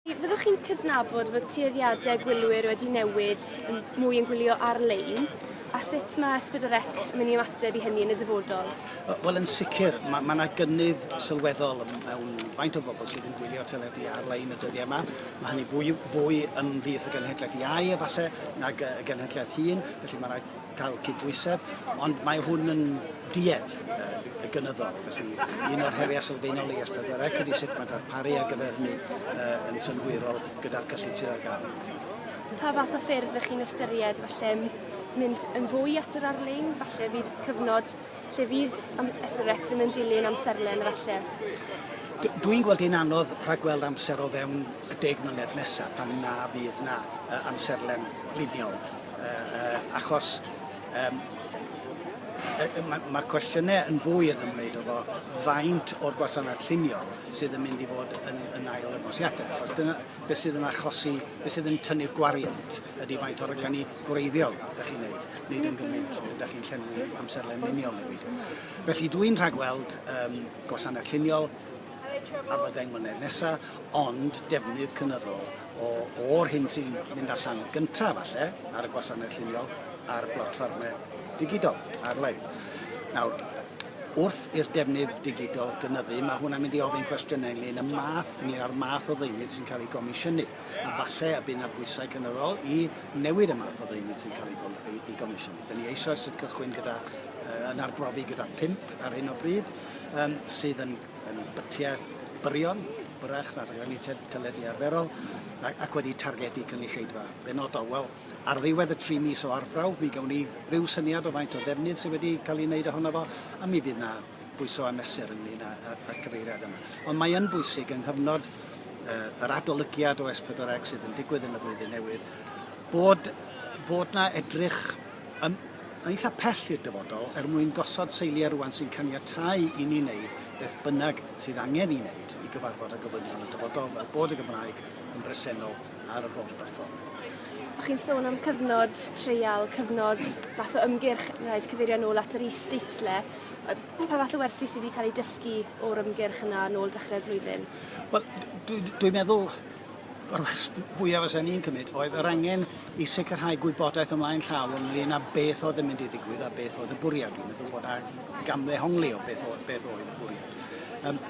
Fyddwch chi'n cydnabod fod tueddiadau gwylwyr wedi newid yn mwy yn gwylio ar-lein? A sut mae Ysbryd y Rec yn mynd i ymateb i hynny yn y dyfodol? Wel, yn sicr, mae yna ma gynnydd sylweddol mewn faint o bobl sydd yn gwylio teledu ar-lein y dyddiau yma. Mae hynny fwy, fwy ymhlith y genhedlaeth iau, efallai, nag y genhedlaeth hŷn, felly mae yna cael cydbwysedd, ond mae hwn yn duedd y gynyddol. Felly, un o'r heriau sylfaenol i S4C ydy sut mae darparu ar gyfer hynny yn synhwyrol gyda'r cyllid sydd ar gael. Pa fath o ffyrdd ydych chi'n ystyried, falle, mynd yn fwy at yr ar-lein? Falle fydd cyfnod Lle fydd am- Esbyrec ddim yn dilyn amserlen efalle? D- Dwi'n gweld hi'n anodd rhagweld amser o fewn y deg mlynedd nesaf pan na fydd na uh, amserlen liniol. Uh, uh, achos um, mae'r ma cwestiynau yn fwy yn ymwneud o fo faint o'r gwasanaeth lluniol sydd yn mynd i fod yn, yn ail ymwosiadau. Achos dyna beth sydd yn achosi, beth sydd yn tynnu'r gwariant ydy faint o'r rhaglenni gwreiddiol dach chi'n neud, nid yn gymint dach chi'n llenwi amserlen miniol neu beidio. Felly dwi'n rhagweld um, gwasanaeth lluniol am y ddeng mlynedd nesaf, ond defnydd cynyddol o, o'r hyn sy'n mynd allan gyntaf falle ar y gwasanaeth lluniol a'r blotffarmau digidol ar-lein. Nawr, wrth i'r defnydd digidol gynyddu, mae hwnna'n mynd i ofyn cwestiynau ynglyn y math, ynglyn â'r math o ddeunydd sy'n cael ei gomisiynu. a falle y bydd 'na bwysau cynyddol i newid y math o ddeunydd sy'n cael ei gomisiynu. Dyn ni eisoes yn cychwyn gyda, yn arbrofi gyda pump ar hyn o bryd, sydd yn bytiau byrion, byrrach na rhaglenni teledu arferol, ac wedi targedu cynulleidfa benodol. Wel, ar ddiwedd y tri mis o arbrawf, mi gawn ni ryw syniad o faint o ddefnydd sydd wedi cael ei wneud ohono fo, a mi fydd 'na bwyso a mesur ynglyn â, â, â'r cyfeiriad yma. Ond mae yn bwysig yng nghyfnod uh, yr adolygiad o S4C sydd yn digwydd yn y flwyddyn newydd, bod, bod na edrych yn, yn eitha pell i'r dyfodol er mwyn gosod seiliau rwan sy'n caniatau i ni wneud beth bynnag sydd angen i wneud i gyfarfod â gofynion y dyfodol fel bod y Gymraeg yn bresennol ar yr holl blatfform. O'ch chi'n sôn am cyfnod treial, cyfnod fath o ymgyrch, rhaid cyfeirio nôl at yr is-state le, Yy pa fath o wersi sy 'di ca'l eu dysgu o'r ymgyrch yna nôl dechre'r flwyddyn? Wel d- dwi dwi'n meddwl yr wers f- fwya fysen i'n cymryd oedd yr angen i sicrhau gwybodaeth ymlaen llaw ynglŷn â beth oedd yn mynd i ddigwydd a beth oedd y bwriad. Dwi'n meddwl bod a gamddehongli o beth oedd beth oedd y bwriad. Yym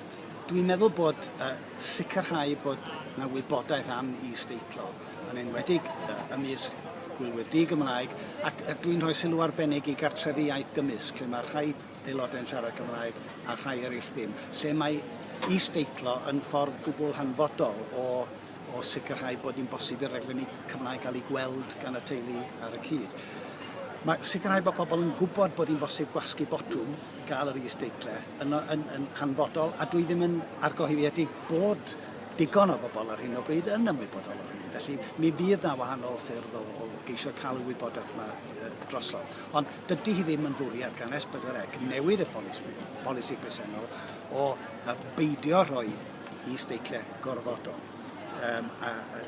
dwi'n meddwl bod yy sicrhau bod 'na wybodaeth am is-deitlo yn enwedig yy ymysg gwylwyr di-Gymraeg, ac yy dwi'n rhoi sylw arbennig i gartrefi iaith gymysg, lle mae rhai aelodau'n siarad Cymraeg a rhai eraill ddim, lle mae is-deitlo yn ffordd gwbl hanfodol o o sicrhau bod hi'n bosib i'r rhaglenni Cymraeg gael eu gweld gan y teulu ar y cyd. Mae sicrhau bod pobl yn gwybod bod hi'n bosib gwasgu botwm i gael yr is-deitle yn, yn, yn hanfodol, a dwi ddim yn argohyddiedig bod digon o bobl ar hyn o bryd yn ymwybodol o hynny. Felly mi fydd na wahanol ffyrdd o, o geisio cael y wybodaeth yma e, drosodd. Ond dydy hi ddim yn fwriad gan S4C newid y polisi, polisi presennol o a beidio rhoi i steiciau gorfodol. Um, a, a,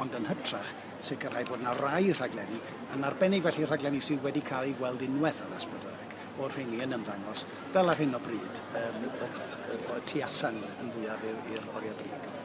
ond yn hytrach sicrhau bod yna rai rhaglenni, yn arbennig felly rhaglenni sydd wedi cael eu gweld unwaith ar S4C, o'r rheini yn ymddangos Fel ar hyn o bryd, yym, y y y tu allan yn fwyaf i'r i'r oriau brig.